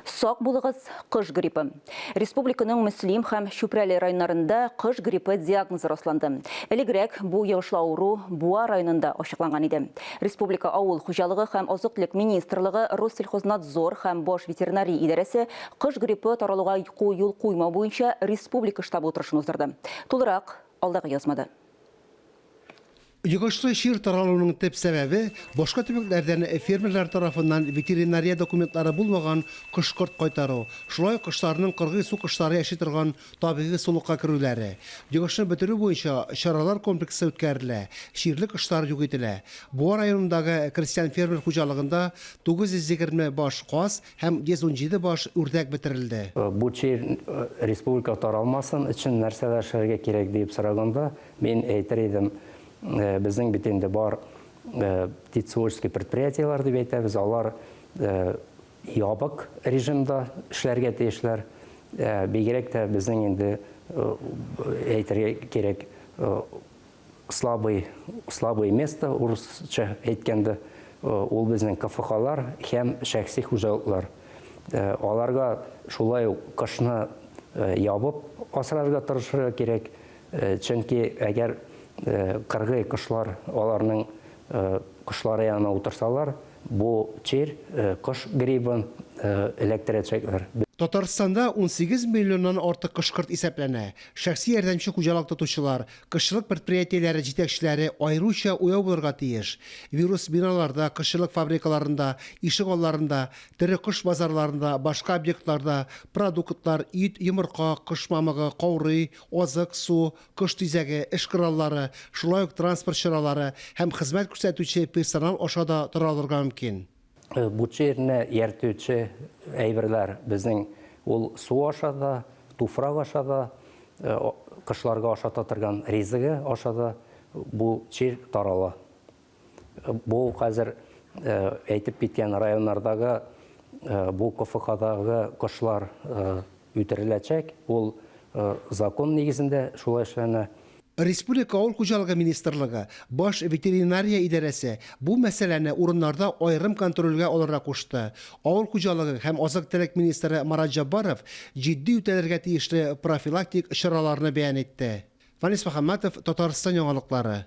Сак булыгыз, кыш гриппы. Республиканың Мөслим һәм Чүпрәле районнарында кыш гриппы диагнозы расланды. Элегрәк бу йогышлы авыру Буа районында ачыкланган иде. Республика авыл хуҗалыгы һәм азык-төлек министрлыгы, Россельхознадзор һәм баш ветеринария идарәсе кыш гриппы таралуга юл куймау буенча республика штабы утырышын уздырды. Тулырак, алдагы язмада. Йогышлы чир таралуның төп сәбәбе, башка төбәкләрдән фермерлар тарафыннан ветеринария документлары булмаган кош-корт кайтару, шулай ук кошларның кыргый су кошлары яши торган табигый сулыкка керүләре. Йогышны бетерү буенча чаралар комплексы үткәрелә, чирле кошлар юк ителә. Буа районындагы крестьян-фермер хуҗалыгында 920 баш каз һәм 117 баш үрдәк бетерелде. Бу чир республикага таралмасын өчен нәрсәләр эшләргә кирәк диеп сораганда, Мин әйтер идем, безнең бит инде бар тицуольский предприятиеләр дип әйтәбез, алар ябык режимда эшләргә тиешләр. Бигрәк тә безнең инде әйтергә кирәк слабый, слабое место, урысча әйткәндә, ул безнең КФХлар һәм шәхси хуҗалыклар. Аларга шулай ук кышны ябып асрарга тырышырга кирәк. Чөнки әгәр кыргый кошлар аларның кошлары янына утырсалар, бу чир кош грибын эләктерәчәкләр. Татарстанда унсигез миллионнан артык кош-корт исәпләнә. Шәхси ярдәмче хуҗалык тотучылар, кошчылык предприятиеләре җитәкчеләре аеруча уяу булырга тиеш. Вирус биналарда, кошчылык фабрикаларында, ишек алларында, тере кош базарларында, башка объектларда, продуктлар, ит, йомырка, кош мамыгы, каурый, азык, су, кош тизәге, эш кораллары, шулай ук транспорт чаралары һәм хезмәт күрсәтүче персонал аша да тора алырга мөмкин. Бу чирне ияртүче әйберләр безнең ул су аша да, туфрак аша да, кошларга ашата торган ризыгы аша да бу чир тарала. Бу хәзер әйтеп киткән районнардагы бу КФХдагы кошлар үтереләчәк, ул закон нигезендә шулай эшләнә. Республика авыл хуҗалыгы министрлыгы, баш ветеринария идарәсе бу мәсьәләне урыннарда аерым контрольгә алырга кушты. Авыл хуҗалыгы һәм азык-төлек министры Марат Җаббаров җитди үтәлергә тиешле профилактик чараларны бәян итте. Фанис Мөхәммәтов, Татарстан яңалыклары.